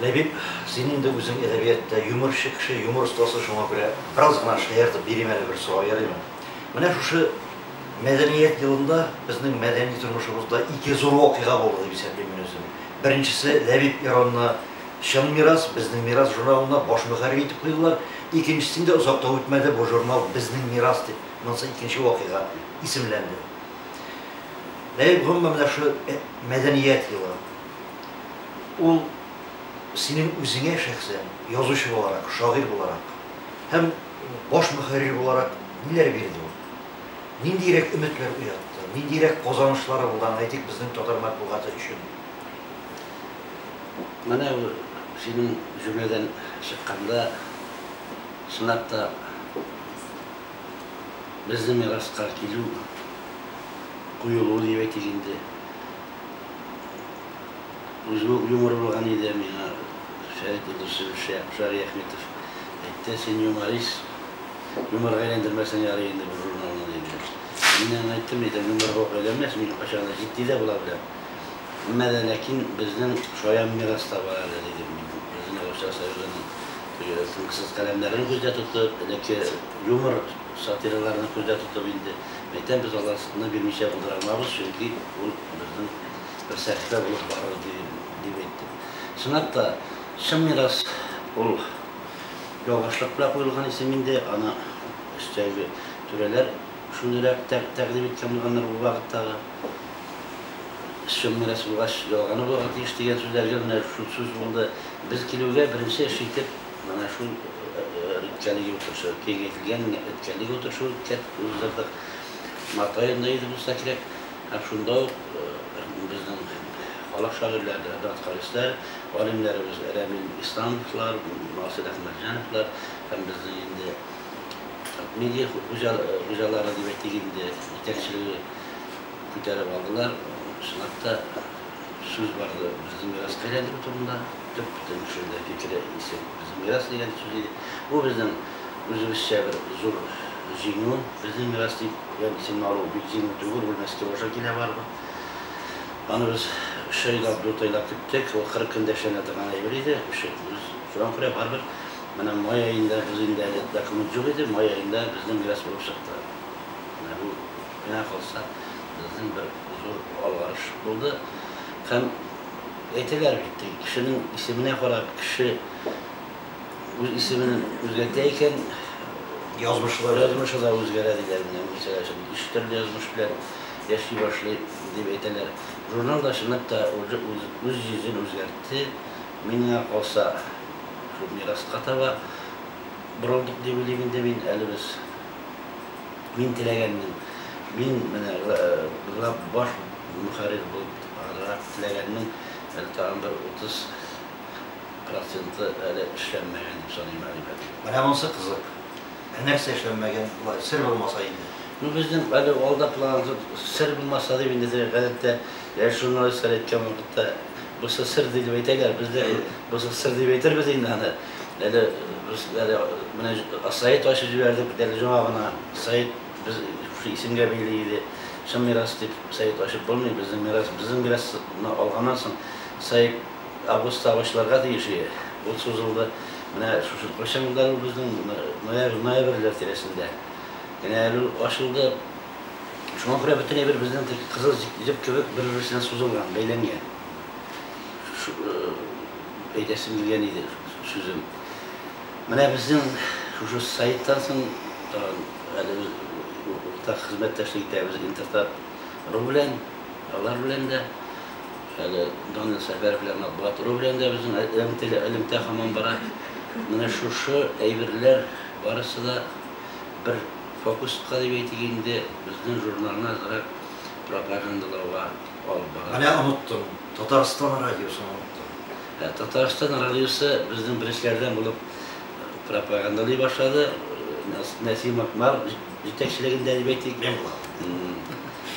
Ләбиб, син инде үзең әдәбиятта юморчы кеше, юмор остасы, шуңа күрә бераз гына шаяртып бирим әле бер сорау, ярыймы? Менә шушы Мәдәният елында безнең мәдәни тормышыбызда ике зур вакыйга булды дип исәплим мин үзем. Беренчесе, Ләбиб Иронны Чын мирас, безнең мирас журналына баш мөхәррир итеп куйдылар. Икенчесен дә озак та үтмәде, бу журнал Безнең мирас дип, монысы икенче вакыйга, исемләнде. Ләбиб, гомумән, менә шушы Мәдәният елы. ул синең үзеңә шәхсән, язучы буларак, шагыйрь буларак һәм баш мөхәррир буларак ниләр бирде ул? Ниндиерәк өметләр уятты? Ниндиерәк казанышлары булды, аны әйтик, безнең татар матбугаты өчен? Менә ул синең җөмләдән чыкканда, чынлап та, безнең мираска килү, коелу дип әйтик инде. Үзем үк юмор булган иде, миңа Фәрит Кудусев, Шари Әхметов әйтте, син юморист, юморга әйләндермәсәң ярый инде бу журналны, диде. Мин аңа әйттем, әйдә, юморга ук әйләнмәс, мин кайчак та җитди дә була беләм. Әмма дә ләкин безнең шаян мирас та бар әле, дидем мин, үземә Руслан Сабировның теге тынгысыз каләмнәрен күздә тотып, элекке юмор, Сатираларны күздә тотып инде, мәйтәм, без аларны бирмичә булдыра алмабыз, чөнки ул безнең бер сәхифә булып барыр иде, дип әйттем. Чынлап та, чын мирас ул ялгышлык белән куелган исем инде, аны өстәге түрәләр шундыйрак тәкъдим иткән булганнар ул вакыттагы. Чын мирас булгач, ялганы булырга тиеш, дигән сүзләргә менә шул сүз булды. Без килүгә, беренче эш итеп. Менә шул үткәнлек утырышы киңәйтелгән үткәнлек утырышы уздырдык. Март аенда иде булса кирәк. Һәм шунда ук безнең халык шагыйрьләре, дәрт-хәвесләр, галимнәребез Рәмил Исламовлар, Насыйр Әхмәтҗановлар һәм безнең инде медиа хуҗалары дип әйтик инде, җитәкчелеге күтәреп алдылар. Чынлап та. Сүз барды безнең мирас каләлеге турында. Төп бөтен кеше дә фикере исем безнең мирас дигән сүз иде. Бу безнең үзебезчә бер зур җиңү. Безнең мирас дип гән исемне алу бик җиңел түгел, ул Мәскәү аша килә барыбер. Аны без өч айлап, дүрт айлап көттек. Ул кырык көндә эшләнә торган әйбер иде. Үче үз. Шуңа күрә барыбер менә май аенда без инде әле документ юк иде, май аенда безнең мирас булып чыкты. Менә бу. Миңа калса, безнең бер зур алгарыш булды. Һәм әйтәләр бит, теге кешенең исеменә карап, кеше үз исемен үзгәртә икән, язмышлар, язмышы да үзгәрә, диләр. Менә Мирсәгать өчен өч төрле язмыш белән яши башлый, дип әйтәләр. Журнал да чынлап та уже үз, үз йөзен үзгәртте. Миңа калса, шул мираска таба борылдык дип уйлыйм инде мин. Әле без Мин теләгәнмен, мин менә баш мөхәррир булып азрак теләгәнмен, әле тагын бер 30 проценты әле эшләнмәгән дип саныйм, әле бер. Менә монсы кызык. Ә нәрсә эшләнмәгән, болай сер булмаса инде? Ну, безнең әле алда план, сер булмаса дип инде теге гадәттә яшь журналистлар әйткән вакытта, бусы сер ди дип әйтәләр, без дә бусы сер дип әйтербез инде аны. Әле без әле менә Саид ачып җибәрдек бит әле җоңа гына. Саид без шушы исемгә бәйле иде. Чын мирас дип Саид ачып булмый, безнең мирас, безнең мирасны алганнан соң Саид август савычларга тиеш иде. Ул сузылды. Менә шушы кайчан булды әле ул безнең ноябрь, ноябрьләр тирәсендә генә әле ул ачылды. Шуңа күрә бөтен әйбер безнең теге кызыл җеп кебек бер-берсенә сузылган, бәйләнгән. Әйтәсем килгән иде сүзем. Менә безнең шушы сайттан соң тагын әле без уртак хезмәттәшлек итәбез Интертат ру белән, алар белән дә, әле Данил Сәфәров белән Матбугат ру белән дә безнең элемтәле элемтә һаман бара. Менә шушы әйберләр барысы да бер фокуска дип әйтик инде, безнең журналны азрак пропагандалауга. Менә оныттым, Татарстан радиосын оныттым. Ә Татарстан радиосы безнең беренчеләрдән булып пропагандалый башлады. Нәсим Акмар җитәкчелегендә дип әйтик. Мин булам.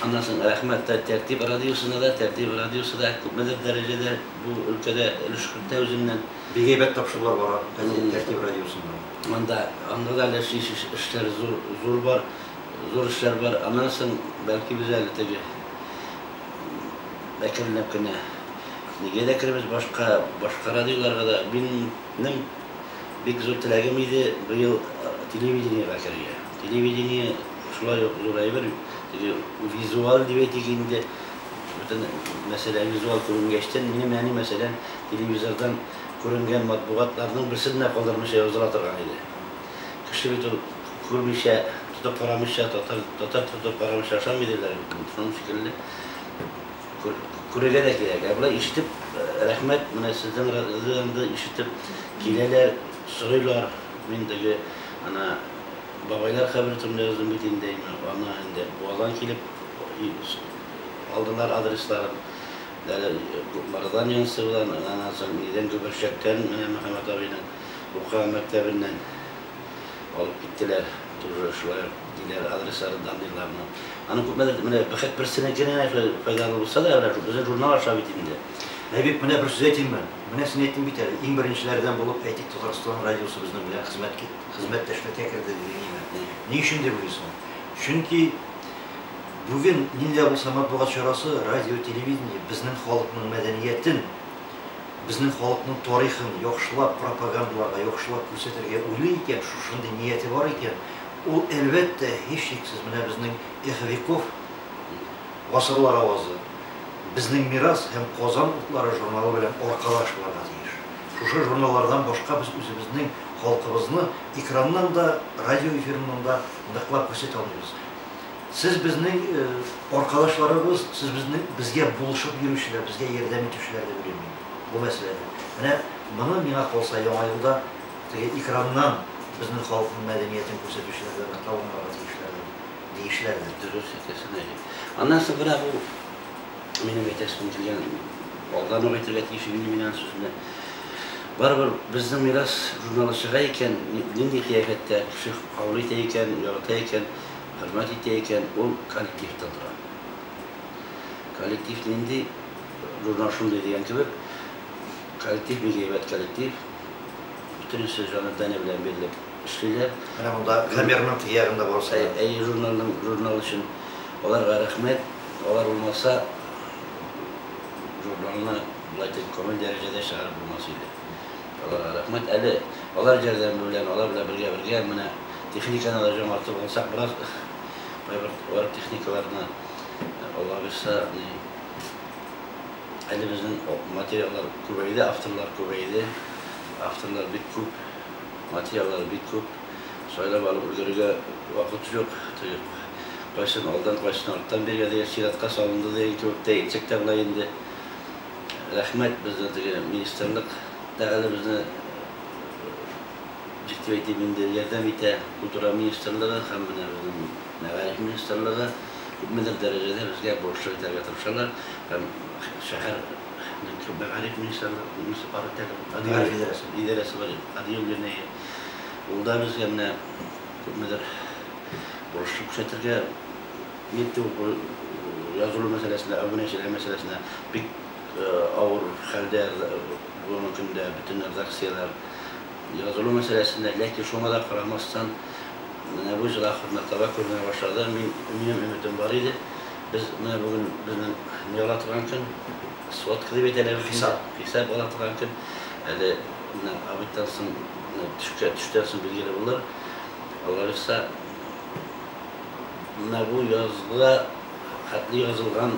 Аннан соң рәхмәт тә Тәртип радиосына да, Тәртип радиосы да күпмедер дәрәҗәдә бу өлкәдә өлеш кертә үзеннән. Бик әйбәт тапшырулар бара Тәртип радиосында. Монда, анда да әле эшләр зур, зур бар, зур эшләр бар. Аннан соң, бәлки без әле теге әкренләп кенә нигә дә кермәс башка башка радиоларга да минем бик зур теләгем иде быел телевидениега керергә телевидение шулай ук зур әйбер теге визуаль дип әйтик инде бөтен мәсьәлә визуаль күренгәчтән минем әни мәсәлән телевизордан күренгән матбугатларның берсен дә калдырмыйча языла торган иде Кеше бит ул күрмичә, тотып карамыйча, татар татар тотып карамыйча ашамый диләр бит инде, шуның шикелле күр күрергә дә кирәк. Ә болай ишетеп рәхмәт, менә сезнең радиодан ишетеп киләләр, сорыйлар. Мин теге ана бабайлар кабере турында яздым бит инде, аны инде Буадан килеп алдылар адресларын. Әле Марадан Янцевыдан, аннан соң нидән Гөберчәктән менә Мөхәммәт абыйның. Ука мәктәбеннән алып киттеләр. Тоже шулай ук диләр, адресларын данныйлар но. Аны күпмедер менә бәхет берсенекенә файдалы булса да, менә безнең журнал аша бит инде. Әйбик, менә бер сүз әйтимме? Менә син әйттең бит әле, иң беренчеләрдән булып, әйтик, Татарстан радиосы безнең белән хезмәт кит, хезмәттәшлеккә керде дидең име? Ни өчен дип уйлыйсың? Чөнки бүген нинди дә булса матбугат чарасы, радио, телевидение безнең халыкның мәдәниятен, безнең халыкның тарихын яхшылап пропагандаларга, яхшылап күрсәтергә уйлый икән, шушындый нияте бар икән, ул, әлбәттә, һичшиксез, менә безнең Эх, веков, Гасырлар авазы, Безнең мирас һәм Казан утлары журналы белән аркадаш булырга тиеш. Шушы журналлардан башка без үзебезнең халкыбызны экраннан да, радио эфирыннан да ныклап күрсәтә алмыйбыз. Сез безнең аркадашларыбыз, сез безнең безгә булышып йөрүчеләр, безгә ярдәм итүчеләр дип уйлыйм мин бу мәсьәләдә. Менә моны, миңа калса, Яңа елда теге экраннан безнең халыкның мәдәниятен күрсәтүчеләр дә ныклап аңларга тиешләрдер, диешләрдер. Дөрес әйтәсең, Әли. Аннан соңгырак ул минем әйтәсем килгән, алдан ук әйтергә тиеш иде мин аның сүзенә. Барыбер Безнең мирас журналы чыга икән, нинди кыяфәттә, кеше кабул итә икән, ярата икән, хезмәт итә икән, ул коллективта тора. Коллектив нинди, журнал шундый дигән кебек, коллектив бик әйбәт коллектив, бөтенесе җаны тәне белән бирелеп эшлиләр. Менә монда камерның кыягында барысы да. Әйе, журналның журнал өчен аларга рәхмәт, алар булмаса, журналны болай дип күңел дәрәҗәдә чыгарып булмас иде. Аларга рәхмәт. Әле алар ярдәме белән, алар белән бергә-бергә менә техниканы да җаңартып алсак, бераз кайбер авыр техникаларны, Аллага бирса, ни, әле безнең материаллар күбәйде, авторлар күбәйде, авторлар бик күп, материаллар бик күп, сайлап алып өлгерергә вакыт юк, то есть кайсын алдан, кайсын арттан бирергә дигән чиратка салынды дигән кебек тә әйтсәк тә була инде. Рәхмәт безне теге министрлык та әле безне ник дип әйтим инде ярдәм итә. Культура министрлыгы һәм менә безнең мәгариф министрлыгы күпмедер дәрәҗәдә безгә бурычлы итәргә тырышалар һәм шәһәр мәгариф министрлыгы муниципаль идарәсе бар Адел Генеев ул да безгә менә күпмедер бурычлы күрсәтергә Митинг бу язылу мәсьәләсенә, абунәчеләр мәсьәләсенә бик авыр хәлдә бүгенге көндә бөтен редакцияләр язылу мәсьәләсендә. Ләкин шуңа да карамастан, менә бу җыр ахырына таба күренә башлады. Мин, минем өметем бар иде. Без менә бүген безнең ни ала торган көн, сводка дип әйтәләр бит инде. Хисап ала торган көн. Әле менә обедтан соң, төшкә төштән соң билгеле булыр. Аллабирса, Менә бу язгы хәтле язылган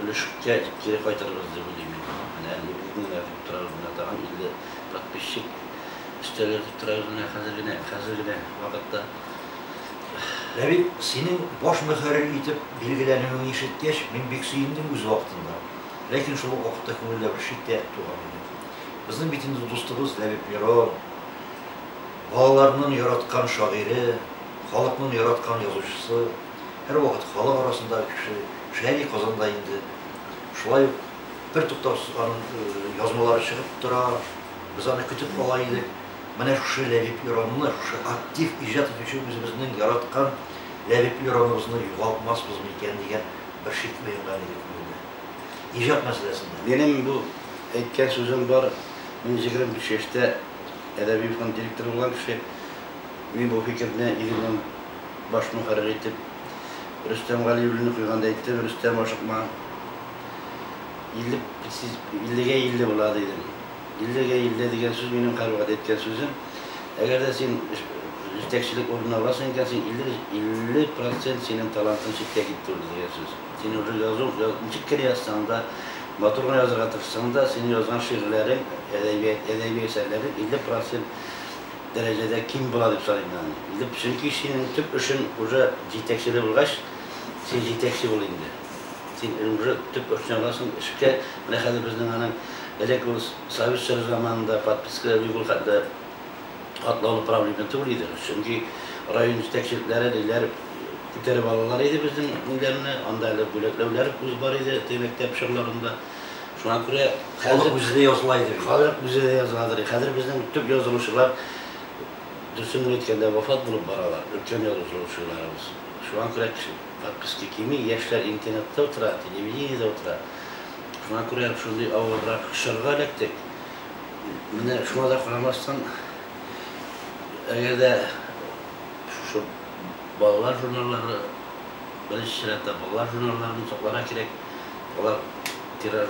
өлешкә кире кайтырбыз дип уйлыйм мин. Менә нигезне генә дип торабыз, менә тагын 50 подписчик өстәгә дип торабыз менә хәзер генә, хәзер генә вакытта. Ә бит синең баш мөхәррир итеп билгеләнүеңне ишеткәч, мин бик сөендем үз вакытында. Ләкин шул ук вакытта күңелдә бер шик тә туган иде. Безнең бит инде дустыбыз Ләбиб Мирон. Балаларның яраткан шагыйре, халыкның яраткан язучысы, һәрвакыт халык арасындагы кеше Шәйми Казан да инде шулай ук бертуктаусыз аның язмалары чыгып тора, без аны көтеп ала идек. Менә шушы Ләбиб Иранны, шушы актив иҗат итүче үзебезнең яраткан Ләбиб Ираныбызны югалтмаспыз микән дигән бер шик уянган иде күңелдә. Иҗат мәсьәләсендә. Минем бу әйткән сүзем бар, мин егерме биш яшьтә Әдәби фонд директоры булган кеше, мин бу фикерне Игельнең баш мөхәррире итеп Рөстәм Галиуллинны куйганда әйттем, Рөстәм, ашыкма, 50 гә 50 була, дидем. 50 гә 50 дигән сүз минем һәрвакыт әйткән сүзем. Әгәр дә син җитәкчелек урынына барасың икән, син 50 процент синең талантың читкә китте ул, дигән сүз. Син уже язу, ничек кенә язсаң да, матур гына язырга тырышсаң да, синең язган шигырьләрең, әдәбият, әдәби әсәрләрең 50 процент дәрәҗәдә ким була дип саныйм мин аны. 50, чөнки синең төп эшең уже җитәкчелек булгач, син җитәкче бул инде. Син уже төп эшне аласың, эшкә, менә хәзер безнең аның, элек ул совет чоры заманында подпискалар юк ул хәтле, катлаулы проблема түгел иде. Чөнки район җитәкчелекләре ниләр күтәреп алалар иде безнең ниләрне, анда әле бүләкләүләр үз бар иде теге мәктәп чорларында. Шуңа күрә халык үзе дә языла иде. Халык үзе дә языладыр. Хәзер безнең төп язылучылар дөресен генә әйткәндә вафат булып баралар, өлкән язылучыларыбыз. Шуңа күрә кеше подписка кими, яшьләр интернетта утыра, телевидениедә утыра. Шуңа күрә шундый авыррак чорга эләктек. Менә шуңа да карамастан, әгәр дә шушы балалар журналлары, беренче чиратта балалар журналларын сакларга кирәк, алар тираж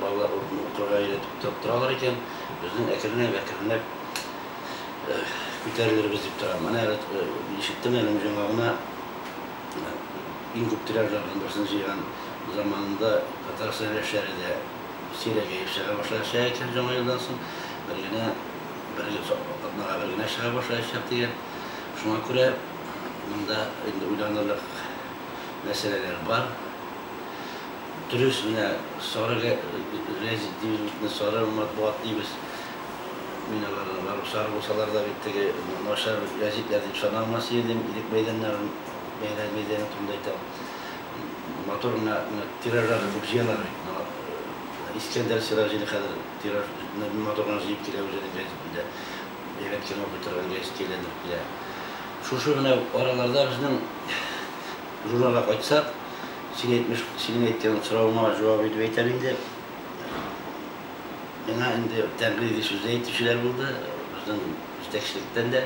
балалар укырга өйрәтеп торалар икән, безнең әкренләп-әкренләп күтәрелербез дип торам. Менә ишеттем әле җиңа гына иң күп тираж алган берсен җыйган заманында Татарстан яшьләре дә Сирәк җыеп чыга башлар чәячәк Җаңа елдан соң бер генә бер гел атнага бер генә чыга башлаячак дигән Шуңа күрә монда инде уйланырлык мәсьәләләр бар Дөрес менә сары гәзит дибез бит инде сары матбугат дибез Мин аларны барыбер сары булсалар да бит теге начар гәзитләр дип санамас идем Ирек мәйданнарын Бәйрәм мәйданы турында әйтәм Матур гына тиражлар укып җыялар бит. Моңа Искәндәр Сираҗине хәзер тиражны матур гына җыеп килә үзенең гәҗитендә. Әйбәт кенә укый торган гәҗиткә әйләндереп килә. Шушы гына араларда безнең журналга кайтсак, син әйтмеш, синең әйткән соравыңа җавап итеп әйтәм инде. Миңа инде тәнкыйди сүз дә әйтүчеләр булды, безнең җитәкчелектән дә.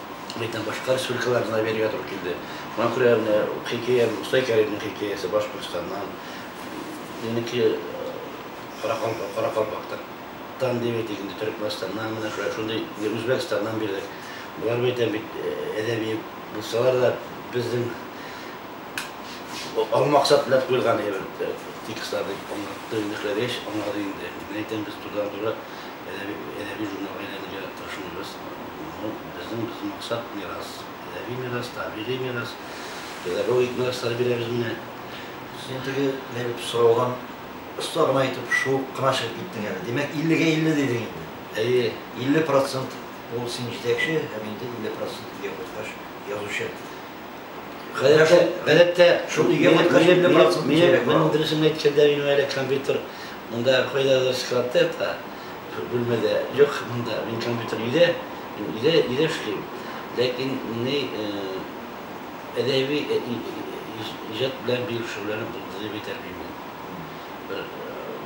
Ләкин башка республикалар гына бирергә туры килде. Шуңа күрә менә хикәя Мостай Кәримнең хикәясе Башкортстаннан, минеке Каракалпактан, дип әйтик инде, Төрекмәнстаннан, менә шулай шундый, Үзбәкстаннан бирдек. Болар бәйтәм бит әдәби булсалар да, безнең алу максат белән куелган әйбер текстлар дип аңлатты, инде эшләгәч аңлады инде. Мин әйтәм, без турыдан-туры әдәби журналга әйләнергә тырышмыйбыз. Ну, безнең без максат, мирас, әдәби мирас, табигый мирас, педагогик мирастар бирәбез менә. Син теге биреп сораудан оста гына итеп шуып кына чыгып киттең әле. Димәк, 50 гә 50 дидең инде. Әйе. 50 процент ул син җитәкче, һәм инде 50 процент, өйгә кайткач, язучы. Гадәттә, шул өйгә кайткач, минем дөресен әйткәндә, минем әле компьютер монда кайдадыр складта ята, шул бүлмәдә. Юк, монда, минем компьютер өйдә, мин өйдә эшлим. Ләкин ни әдәби иҗат белән бик шөгыльләнеп булды дип әйтә алмыйм. Бер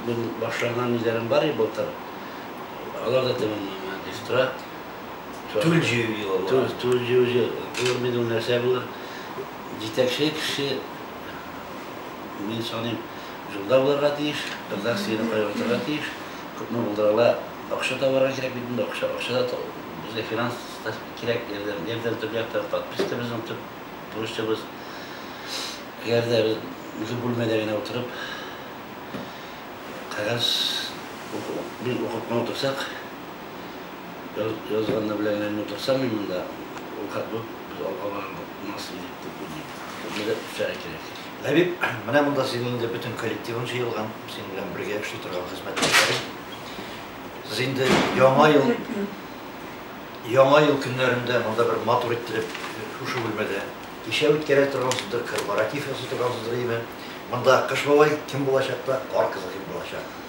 мин башлаган ниләрем бар иде былтыр, алар да тәмамланмады, дип тора. Тудью елы була. Туд, тудью ел. Булыр мени ул, нәрсә булыр? Җитәкче кеше, мин саныйм, җулда булырга тиеш, редакцияне кайгыртырга тиеш, күпме булдыра ала, акча табарга кирәк бит инде, акча, акча да таб, безгә финанс та кирәк ярдәм, ярдәм төп яктан, подписка безнең төп бурычыбыз. Әгәр дә без үзе бүлмәдә генә утырып, кәгазь уку, бил укып кына утырсак, Язганны белән генә утырсам мин монда, ул как бы без алга бара алмас идек дип уйлыйм. Безгә дә үсәргә кирәк. Ләбиб, менә монда синең инде бөтен коллективың җыелган, синең белән бергә эшли торган хезмәттәшләрең. Сез инде яңа ел, яңа ел көннәрендә монда бер матур иттереп шушы бүлмәдә кичә үткәрә торгансыздыр, корпоратив ясый торгансыздыр, әйеме? Монда Кыш бабай кем булачак та Кар кызы кем булачак?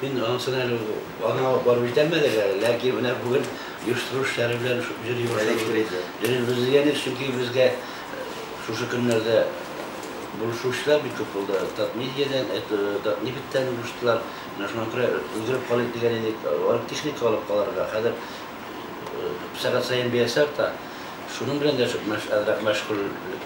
Мин анысын әле ул аны алып барып җитәлмәдек әле, ләкин менә бүген оештыру эшләре белән шук йөри башладык. Җөрибез. Без дигән ир, чөнки безгә шушы көннәрдә булышучылар бик күп булды. Татмедиядән, Татнефтьтән булыштылар. Менә шуңа күрә өлгереп калыйк дигән идек. Алар техника алып калырга хәзер сәгать саен бәясе арта. Шуның белән дә шук мәш әзрәк мәшгульлек.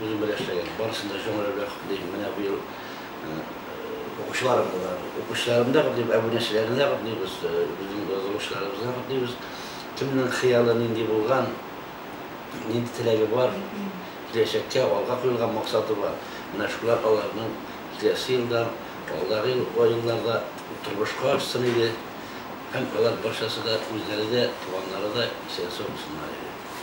үзем белән эшләгән. Барысын да җомга белән котлыйм. Менә быел укучыларымны да, укучыларымны да котлыйм, әбүнәчеләрне дә котлыйбыз, безнең язылучыларыбызны да котлыйбыз. Кемнең хыялы нинди булган, нинди теләге бар, киләчәккә алга куелган максаты бар, менә шулар аларның киләсе елда, алдагы елларда тормышка ашсын иде һәм алар барчасы да, үзләре дә, туганнары да исән-сау булсыннар иде.